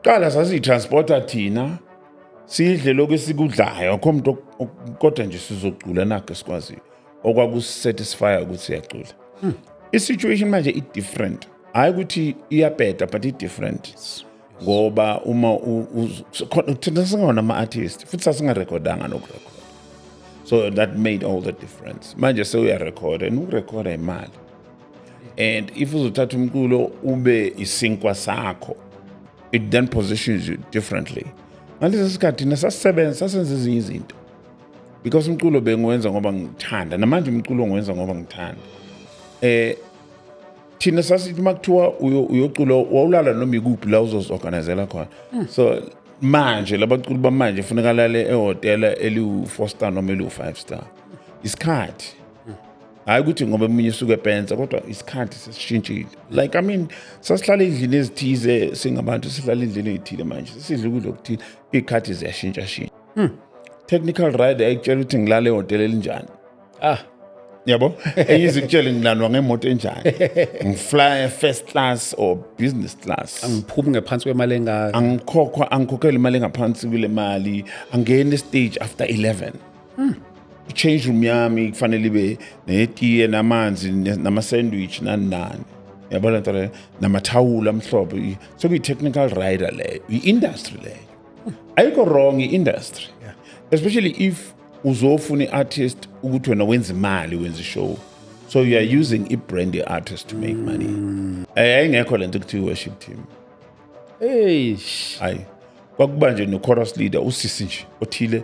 Qala sasiyitransporta thina sidle lokhu esikudlayo akho muntu kodwa nje sizocula nakho esikwaziyo okwakusatisfya ukuthi siyacula hmm. i-situation manje i-different hhayi ukuthi iyabheda but i-different ngoba uma thina singona ama-artist futhi sasingarekhodanga nokurekhoda so that made all the difference manje sewuyarekhoda and ukurekhoda imali and if uzothatha umculo ube isinkwa sakho it then positions you differently ngalesi sikhathi thina sasisebenza sasenza ezinye izinto because umculo bengiwenza ngoba ngithanda namanje umculo ngiwenza ngoba ngithanda eh thina sasithi uma kuthiwa uyocula wawulala noma ikuphi la uzozi-organizela khona hmm. so manje labaculi bamanje funeka lale ehhotela eliwu-four star noma eliwu-five star isikhathi hayi ukuthi ngoba eminye usuke epensa kodwa isikhathi sesishintshile like i mean sasihlala endlini ezithize singabantu sihlala endlini ezithile manje sisidla ukudla okuthile iy'khathi ziyashintshashintsha hmm. technical ride ayikutshela ukuthi ngilale ehhotela elinjani ah yabo enye izikutshele ngilandwa ngemoto enjani ngifly first class or business class angiphumi ngephansi kwemali engaka angikhokhwa angikhokhela imali engaphansi kule mali angeni stage after 11 Hmm. I-change room yami kufanele ibe netiye namanzi nama-sandwich nani nani yabona nto leyo namathawula amhlophe sekuyi-technical rider leyo yi-industry leyo ayikho wrong i-industry especially if uzofuna i-artist ukuthi wena wenza imali wenza ishow so you are using i-brand ye-artist to make money mm. eh, yayingekho le nto kuthiwa i-worship team eish hayi kwakuba nje no-chorus leader usisi nje othile